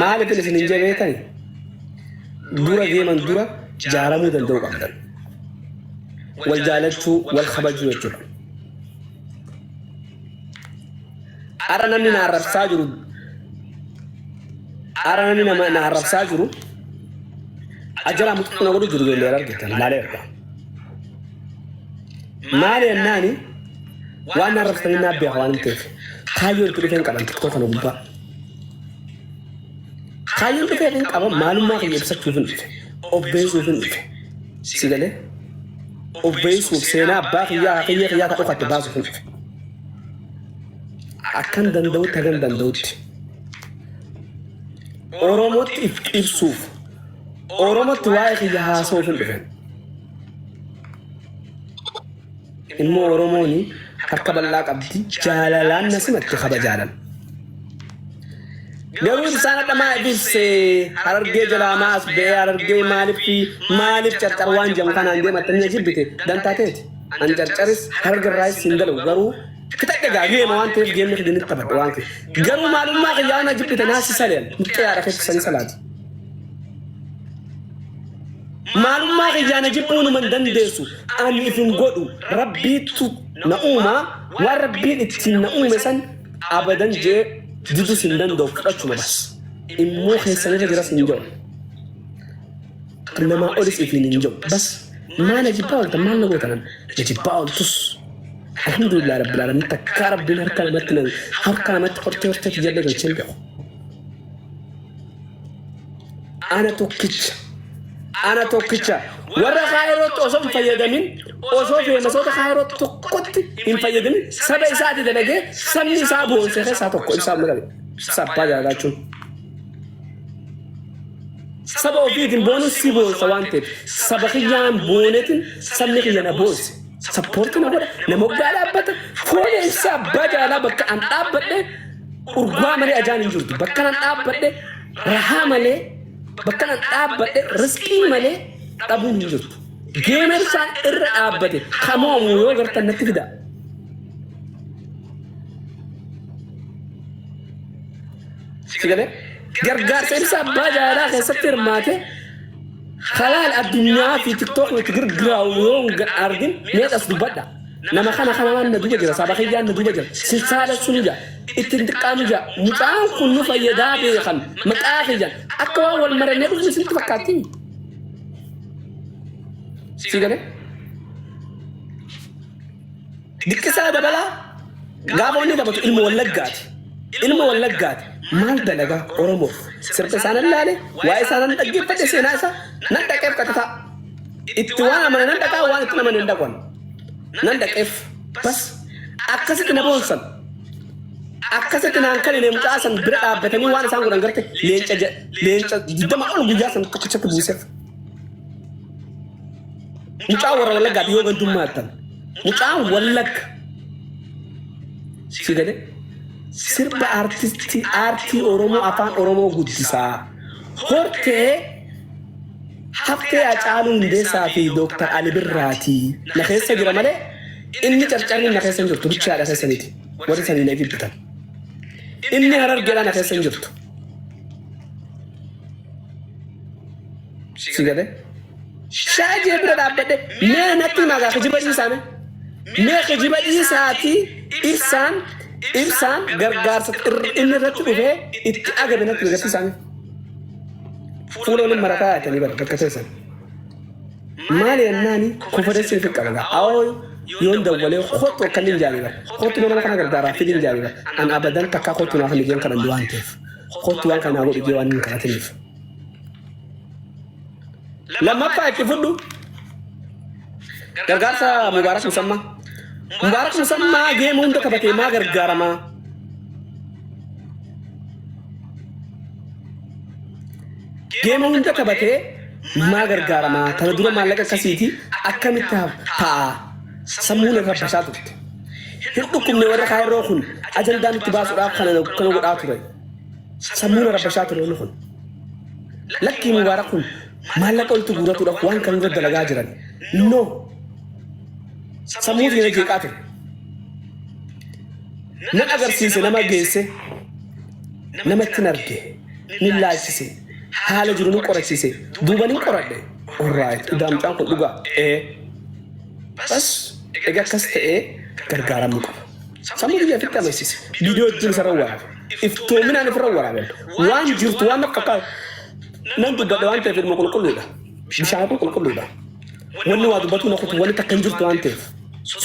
Maaliif isin hin jabeetan? Dura deeman dura jaaramuu danda'u qabdan. Wal jaalachuu, wal kabajuu jechuudha. Ara namni na arrabsaa jiru ara namni nama na arrabsaa jiru ajala muxuu na godhu jiru beelleera argitan ilaaleera. Maali jennaani? Waan arrabsitanii naaf beeka waan hin ta'eef. Kaayyoo itti dhufeen qaban tokkoo kana gubbaa. Kaayyoon dhufee kan qaban maalummaa kiyya ibsachuuf hin dhufe. Obbeessuuf hin dhufe. Si galee? Obbeessuuf seenaa abbaa kiyyaa kiyya kiyyaa ka dhokatte baasuuf hin dhufe. Akkan danda'utti hagan danda'utti. Oromootti if ibsuuf. Oromootti waa'ee kiyya haasa'uuf hin dhufe. Ilmoo Oromoon harka bal'aa qabdi jaalalaan na simatte kabajaadhan. Garuu isaan hadha maa ibisse harargee jalaa maa as ba'ee harargee maaliif maaliif carcar waan jedhamu kanaan deematte na jibbite dantaa teeti. An carcaris hararga irraayis hin dalagu garuu fixadhe gaa geema waan ta'eef geemni fide nitti taphadha waan kee. Garuu maalummaa kiyyaa na jibbite naa si saleen muxxee haadha kee kisanii salaati. Maalummaa kiyyaa na jibbuu numa hin dandeessu. Ani if hin godhu. Rabbiittu na uuma. Waan Rabbiin ittiin na uume san abadan jee didus hin danda'u fudhachuma bas. Immoo keessanirra jiras hin jedhu. Namaa olis ifiin hin jedhu. Bas maa na jibbaa ooltan maal na gootanan na jibbaa ooltus. Alhamdulillah rabbil alamin takkaa rabbiin harka namatti na harka namatti hortee hortee kiyyalle galchee hin beeku. ana tokkicha ana tokkicha warra kaayirootti osoo hin fayyadamin osoo feemasoota kaayirootti tokkotti hin fayyadamin saba isaati dalagee sabni isaa boonse keessaa tokko ibsaa mul'ate ibsaa abbaa jaalalaa jechuun saba ofiitiin boonuun si boonsa waan ta'eef saba kiyyaan boonetiin sabni kiyya na boonse Sappoorti na godha. Na moggaa dhaabbata. Foon eessa abbaa jaalaa bakka an dhaabbadhe urgaa malee ajaan hin jirtu. Bakka an dhaabbadhe rahaa malee bakka an dhaabbadhe riskii malee dhabuun hin jirtu. Geemersaan irra dhaabbate kamoomu yoo gartan natti fida. Sigalee gargaarsa ibsa abbaa jaalaa keessatti hirmaate Halaal addunyaa fi tiktookni itti girgiraawu yoo hin argin mee dhas dubbadha. Nama kana kanamaan na duba jira saba kiyyaan na duba jira silsaa dhassu nu jaa itti hin xiqqaa nu jaa mucaan kun nu fayyadaa beekan maqaa kiyyan akka waan wal marannee dhufne isinitti fakkaattii. Sii galee. Dikkisaa dabalaa gaafa wanni taphatu ilma wallaggaati. Ilma wallaggaati. Maal dalagaa Oromoof sirba isaa nan laale waa'ee isaa nan dhaggeeffadhe seenaa isaa nan dhaqeef qaxataa. Itti waan amane nan dhaqaa waan itti amane hin dhaqan. Nan dhaqeef bas akkasitti na boonsan. Akkasitti naan kan hin mucaa san bira dhaabbatanii waan isaan godhan garte leenca leenca digdama ol guyyaa san tokkichatti buuseef. Mucaa warra wallaggaa dhiyoo gandummaa attan. Mucaa wallagga. Si galee? Sirba artistii aartii Oromoo afaan Oromoo guddisaa. Hortee haftee Hacaaluu Hundeessaa fi Dooktar Ali Birraatii na keessa jira malee inni carcarri na keessa hin jirtu bichaadha keessa miti. Warri sanii na ibidditan. Inni harargeedhaa na keessa hin jirtu. Si galee? Shaa jee bira dhaabbadhe mee natti himaa gaa kijiba dhiisaa mee. Mee kijiba dhiisaatii ibsaan ibsaan gargaarsa irra- inni irratti dhufee itti agame natti agarsiisaa mee. Fuula waliin marataa yaatanii bara bakka teessan. Maali yennaani konfidensiin fi qaba gaa. Awoo yoon dawwalee kottu akka inni hin jaalle bara. Kottu nama kana gargaaraa fi hin jaalle bara. An abadan takkaa kottu naaf hin ijeen kadhan waan ta'eef. Kottu waan kana godhu ijee waan hin kadhatiniif. Lammaffaa itti fudhu gargaarsa Mubaarak Musammaa. Mubaarak Musammaa geema hunda taphatee maa gargaaramaa? Geema hunda taphatee maa gargaaramaa? Kana dura maallaqa akkasiiti akkamitti ta'a? Sammuun irra basaa turte. Hin dhukkubne warra kaayiroo kun ajandaan itti baasuudhaaf kana godhaa ture. Sammuun arabbashaa ture inni kun. Lakkii Mubaarak kun maallaqa walitti guuratuudhaaf waan kan irra dalagaa jiran. No. Sammuu keenya jeeqaa ture. Nan agarsiise nama geesse nama ittiin arge nin laajsise haala jiru nin qorachiise duuba nin qoradhe. Orraayit idaamcaan kun dhugaa. Ee. Bas egaa akkas ta'ee gargaaramuu qaba. Sammuu biyya ofitti amansiise. Viidiyoo ittiin isarra waraabame. iftoominaan ifirra waraaban waan jirtu waan akka nan dubbadha waan ta'eef ilma qulqulluudha bishaan kun qulqulluudha wanni waa dubbatu na kutu wanni takka hin jirtu waan ta'eef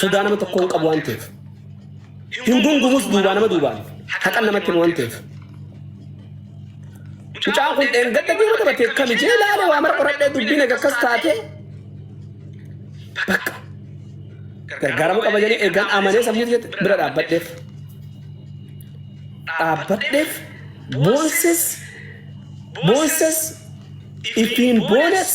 sodaa nama tokko hin qabu waan ta'eef hin gungumus duubaa nama duubaan haqan namatti waan ta'eef mucaan kun dheengadda biiroo qabatee kami jee ilaale waa mara qoradhee dubbiin egaa akkas taate bakka gargaaramuu qaba jedhanii eegan amanee sammuu bira dhaabbadheef. dhaabbadheef boonses boonses ittiin boones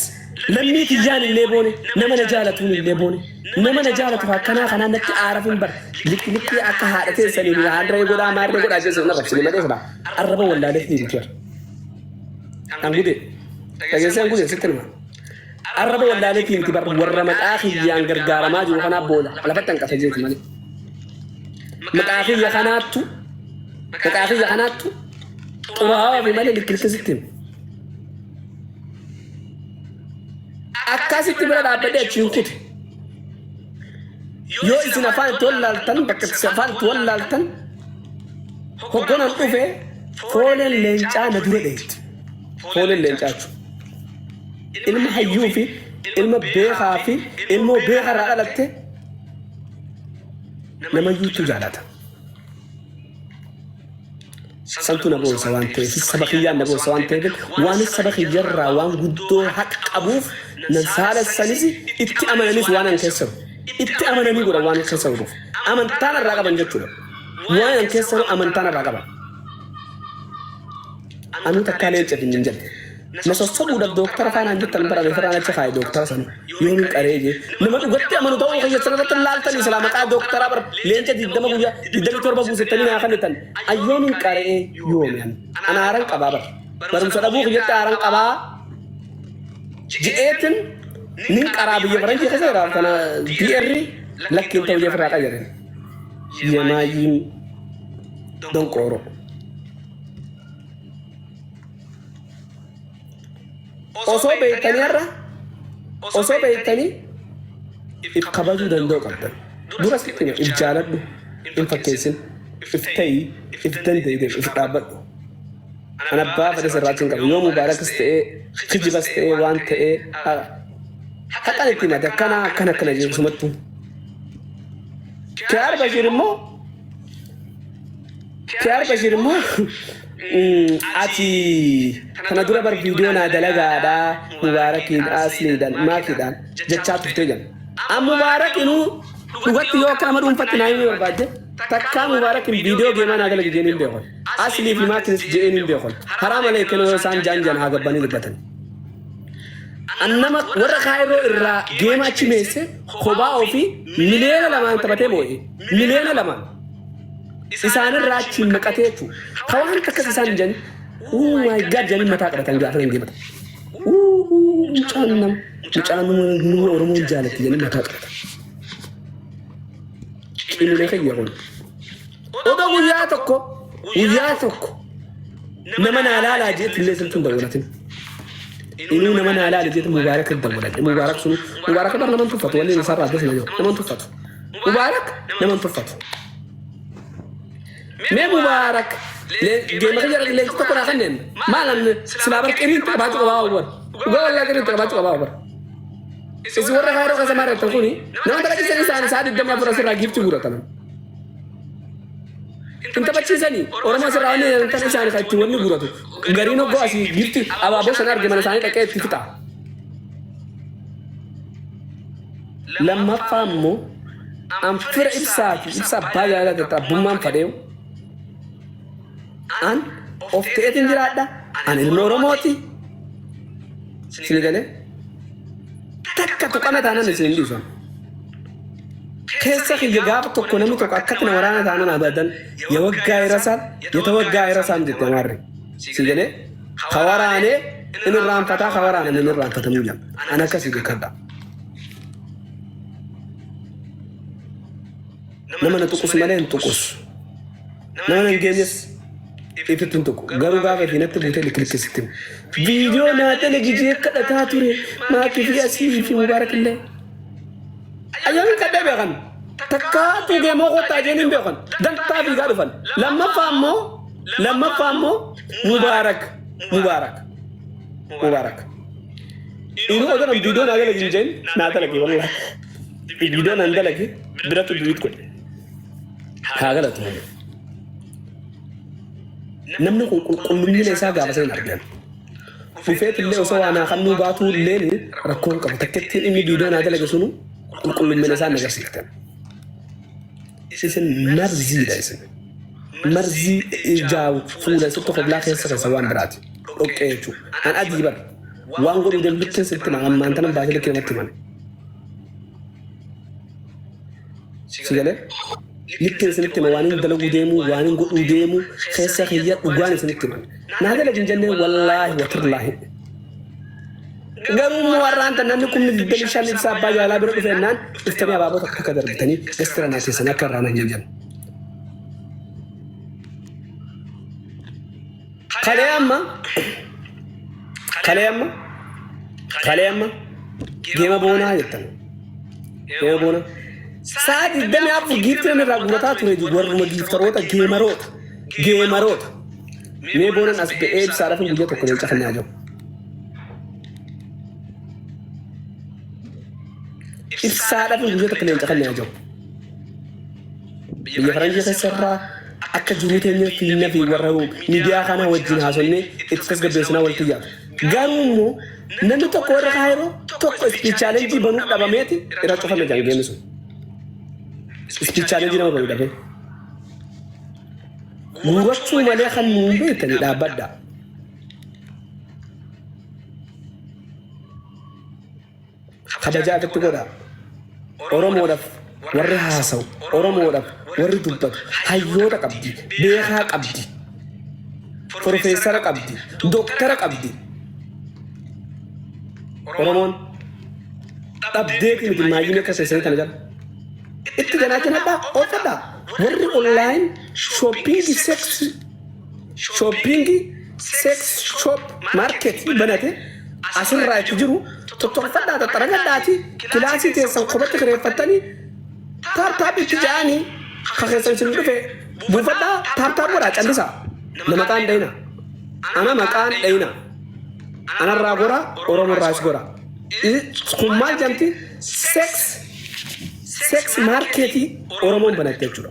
lammii kiyyaan illee boone nama na jaalatuun illee boone nama na jaalatu akkanaa kanaan natti aaraf hin bara liqliqii akka haadha teessanii fi haadharee godhaa maarree godhaa jechuun na rakkisanii malee fudhaa arraba wallaalee hin jiru. Angudee dhageessee angudee sitti nima. Arraba wallaaleetii miti bar warra maqaa kiyyaan gargaaramaa jiru kanaa boola lafatti hanqasa jeeti malee. Maqaa kiyya kanaattu maqaa kiyya kanaattu xuraawaa fi malee likkilcha sitti hima. Akkasitti bira dhaabbadhee achi hin kute. Yoo isin afaan itti wallaaltan bakka itti afaan itti wallaaltan hoggonan dhufe fooleen leencaa na dura dheetti. Fooleen leencaa jechuudha. ilma hayyuu fi ilma beekaa fi ilmoo beekaa irraa dhalatte nama iyyuutu jaalata. Santu na boonsa waan ta'eef saba kiyyaan na boonsa waan ta'eef waan saba kiyyarraa waan guddoo haqa qabuuf nan saalessanis itti amananis waan an keessa itti amananii godha waan keessa godhuuf amantaan irraa qaban jechuudha. Waan an keessa amantaan irraa qaban. Anuu takkaa leenca fi hin jenne. Na sossobuudhaf dooktara faa naan jettan bara meefarraa nacha kaaye dooktara sani. Yoomin qaree jee. Nama dhugatti amanu ta'uu kiyya sirratti hin laaltanii silaa maqaa dooktaraa bar leenca 20 guyyaa 27 guusettanii naa kannitan. An yoomin qare'ee yoomi ani. An aaran qabaa bar. Barumsa dhabuu kiyyatti aaran qabaa je'eetin nin qaraa biyya faranjii keessa jiraaf kana DR lakki hin ta'u jee firraa qayyare. Yemaayiin donqooroo. osoo beektanii har'a osoo beektanii if kabajuu danda'u qabdan dura sitti hima if jaaladhu hin fakkeessin if ta'i if dandeedeef if dhaabbadhu an abbaa fedhe sirraachuu hin qabu yoo mubaarakas ta'ee kijibas ta'ee waan ta'ee haqan itti himate akkana akkana akkana jedhu sumattuu Kiyaar Bashiir immoo Kiyaar Bashir immoo ati kana dura bar viidiyoo naa dalagaadha Mubaarakiin Asliidhaan Maakiidhaan jechaa turtee jedhan. An Mubaarak inuu dhugatti yoo akka nama dhuunfatti naa himuu barbaadde takkaa Mubaarakiin viidiyoo geemaa naa dalagi jeen hin beekon. Aslii fi Maakiinis je'een hin beekon. Haraa malee kenoo yoo isaan jaan jaan haa gabbanii dubbatan. An nama warra kaayiroo irraa geema achi meesse kobaa ofii miliyoona lamaan taphatee moo'e. Miliyoona lamaan. isaanirraa achiin maqatee jechuudha. Ka waan takkas isaan jedhan uu maay gaad jedhanii mataa qabatan gaafa hin deematan. Uu mucaan nama mucaan nama Oromoon jaalatti jedhanii mataa qabatan. Cimina kiyya kun. Oda guyyaa tokko guyyaa tokko nama naa laalaa jeetti illee sirtuun dabalate. Inuu nama naa laala jeetti mubaarak dabalate. Mubaarak sun mubaarak bara naman tuffatu wanni isaa irraa adda sana jiru naman tuffatu. Mubaarak nama hin tuffatu. Mee Mubaarak geema kan jedhan leenci tokko naa kanneen maal namni silaa bar qiriin qabaachuu qabaa obar. Dhugaa wallaa qiriin qabaachuu qabaa obar. Isin warra kaaroo kan samaa irratti kuni nama taphachiisan isaanii isaa digdamii afur asirraa giifti guurataman. Hin taphachiisanii Oromoo asirraa wanni hin taphatan isaanii kan ittiin wanni guuratu. Gariin hoggoo asii giifti abaaboo sana arge mana isaanii dhaqee itti fixa. Lammaffaa immoo an fira ibsaa fi ibsa abbaa jaalala dadhabbummaan fadheewu an of ta'eetiin jiraadha an ilma oromooti sini galee takka tuqana taanan isin hin dhiisan keessa kiyya gaafa tokko namni tokko akkatti na waraana taanan abadan ya waggaa irasaan ya ta waggaa irasaan jette maarre si galee ka waraanee in irraanfataa ka waraaname in irraanfatamuu jira an akkasii beekadha nama na tuqus malee hin tuqus nama na hin geenyes itti hin tuqu garuu gaafa isheen natti buutee likkilikkisitti viidiyoo naa dalagijee kadhataa ture maakii fi asii fi mubaarak illee ayyaamiin kadhee beekan takkaa tuugee moo kottaa isheen hin beekan dantaa fiigaa dhufan lammaffaa immoo lammaffaa immoo mubaarak mubaarak mubaarak Dhiiruma kana viidiyoo naa dalagi hin jeen naa dalagi wallah. Viidiyoo naan dalagi biratu duwiit godhe. Haa galatu. Namni kun qulqullummiina isaa gaafa seen argan. Dhufeet illee osoo waa naa kannuu baatuu illee rakkoon qabu. Takkettiin inni viidiyoo naa dalage sunu qulqullummiina isaa hin agarsiiftan. Isin marziidha isin. Marzii ijaa fuula isin tokko bilaa keessa keessa waan biraati. Dhoqqee jechuudha. An adii bar. Waan godhuu danduttin sitti himan ammaan tanan baasee likkee namatti himan. Si galee? Likkeen isinitti hima waan hin dalaguu deemuu waan hin godhuu deemuu keessa kiyya dhugaan isinitti himan. Naa dalagin jennee wallaahi watirlaahi. Garuu immoo har'aan tan namni kumni 25 ibsa abbaa jaalaa bira dhufe ennaan dhuftanii abaaboo takka akka darbitanii gastira naa keessan akka irraa nan jedhan. Kalee amma kalee amma kalee amma geema boonaa jettan. Geema boonaa. Sa'a 24 giifti namni irraa guurataa ture warruma giiftaroota geemaroota geemaroota. Mee boonan as ba'ee ibsaadhaaf guyyaa tokko leenca kan nyaatu. Ibsaa dhabuun guyyaa tokko leenca kan leenca jiru. Biyya faranjii keessa irraa akka jiruu teenyee fiinna fi warra miidiyaa kana wajjin haasofnee itti tasgabbeessinaa walitti yaadu. Garuu immoo namni tokko warra kaayiroo tokko ispiichaalenjii banuu dhabameeti irra cufame kan geemmi sun. Ispiichaalenjii nama banuu dhabee. Guurachuu malee kan nuun beektan dhaabbadha. kabajaa irratti godhaa. Oromoodhaaf warri haasa'u, Oromoodhaaf warri dubbatu, hayyoota qabdi, beekaa qabdi, profeesara qabdi, doktara qabdi. Oromoon dhabdeeti miti maayyina akka seessanii kana jala. Itti ganaa kenadhaa, oofadhaa. Warri online shopping sex shopping sex shop market banate asirraa itti jiru tottolfadhaa xaxxaragadhaati kilaasii teessan kophatti kireeffattanii taaptaap itti ja'anii ka keessan isin dhufe buufadhaa taaptaap godhaa callisaa na maqaan dhayina ana maqaan dhayina anarraa gora oromorraas gora kun maal jamti sex sex marketii oromoon banatte jechuudha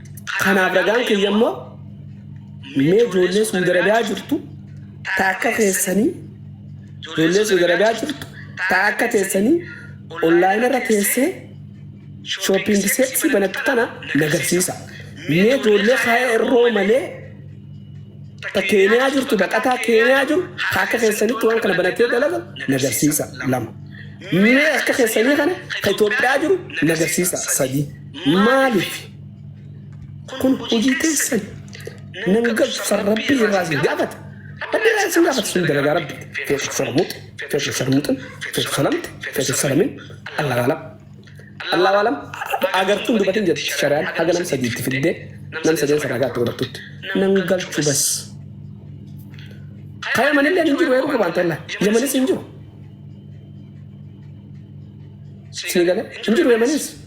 Kanaaf ragaan kiyya immoo mee ijoollee Suudi Arabiyaa jirtu ta akka keessanii ijoollee Suudi Arabiyaa jirtu ta akka teessanii onlaayina irra teessee shooppiingi seeksii banattu tana nagarsiisa. Mee ijoollee kaa'ee irroo malee ta keeniyaa jirtu baqataa keeniyaa jiru ta akka keessanitti waan kana banatee dalaga nagarsiisa lama. Mee akka keessanii kana ka Itoophiyaa jiru nagarsiisa sadii. Maaliif? Kun hojii teessan nan gabsan rabbii irraa isin gaafata. Rabbii irraa isin gaafata sun dalagaa rabbi. Feetu sarmuuxi, feetu sarmuuxin, feetu salamti, feetu salamin, Allah waalam. Allah waalam agartuun dubatiin jedhu shari'aan haga nam sadiitti fiddee nam sadeen sana gaatti godhattutti. Nan galchu bas. Kaya manillee hin jiru eeruu qabaan tolla. Yamanis hin jiru. Sii galee hin jiru yamanis.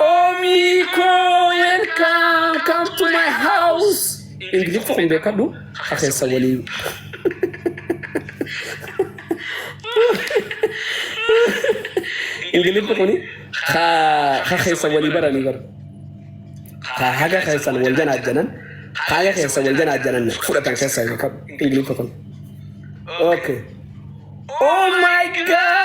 Omii koo welcome come to my house. Ingiliffa kun beekadhu akeessa waliin. Ingiliffi kun ka keessa walii baranii bara. Ka haga keessan wal janaa janan haga keessa wal janaa janan fudhatan keessa beekadhu Ingiliffi kun. Okay. Oh my god!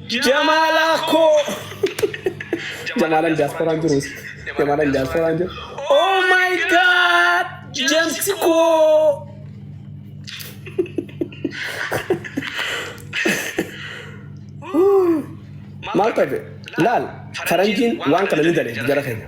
Jamala ko. Jamalan diaspora jiru. Jamalan diaspora jiru. Oh my god! James ko. Maal tabe? Laal faranjiin waan kana ni daleetti jara keenya.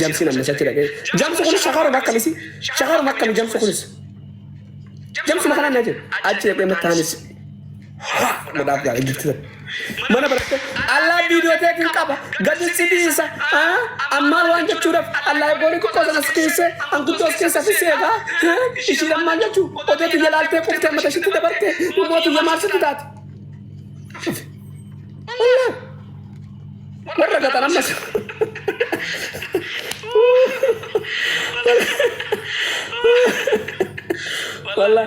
Jamsi namni isatti dhaqee. Jamsi kunis shakaaruma akkamisi? Shakaaruma akkami jamsi kunis? Jamsuma kanaan na jedhe. Achi dhaqee mattaanis. Haa! Godhaaf gaara jirti sana. Mana baratte allaa viidiyoo teetiin qaba gadi si dhiisa haa ammaan waan jechuudhaaf allaa eegooni xiqqoo sana si keesse anguddoo si keessa fi seegaa haa ishiin ammaan jechuu odoo tiyya laaltee quftee mata ishitti dabarte immoo tiyya maal sitti taate. Allaa! Warra gaxan ammas. Wallah.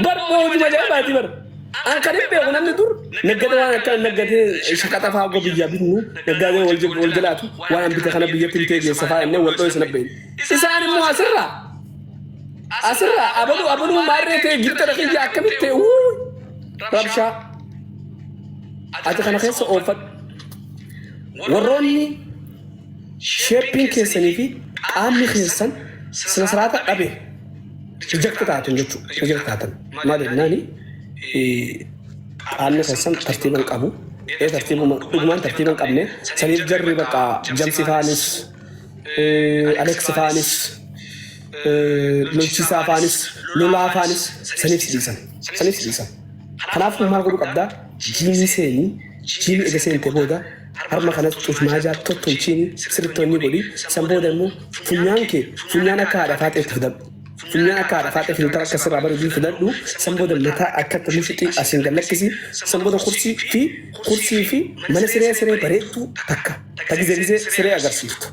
Bar moojuma jaabaati bar. An kan hin beeku namni dur naggada waan akka naggadee shaqaxa fa'aa goo biyyaa bitnu naggaadee wal jib- wal jalaatu waan an bite kana biyyatti bitee geessa fa'aa innee wal dho'isa nabbeen. Isaan immoo asirraa asirraa abaluu abaluu maarree ta'e gibxa dhaqee akkamitti ta'e wuu rabshaa. Ajaja kana keessa oofadhu. Warroonni sheeppiin keessanii fi qaamni keessan sina siraata dhabe rijakti taatan jechuudha. Rijakti taatan. Maal jennaani qaamni keessan tartiiban qabu. Ee tartiibuma dhugumaan tartiiban qabne saniif jarri bakka jamsi faanis aleksi faanis lolchisaa faanis lolaa faanis saniif si dhiisan. Saniif si dhiisan. Kanaaf maal godhuu qabdaa? Jiimii seenii, jiimii ega seente booda harma kanas cufmaajaa tottolchiini sirrittonni godhi. San booda immoo funyaan kee funyaan akka haadha faaxeetti fidadhu. Funyaan akka haadha faaxee filtara akka sirraa bareedu fidadhu. San booda mataa akkatti mushuxii asiin gad lakkisi. San booda kursii fi kursii fi mana siree siree bareeddu takka ta gizee gizee siree agarsiiftu.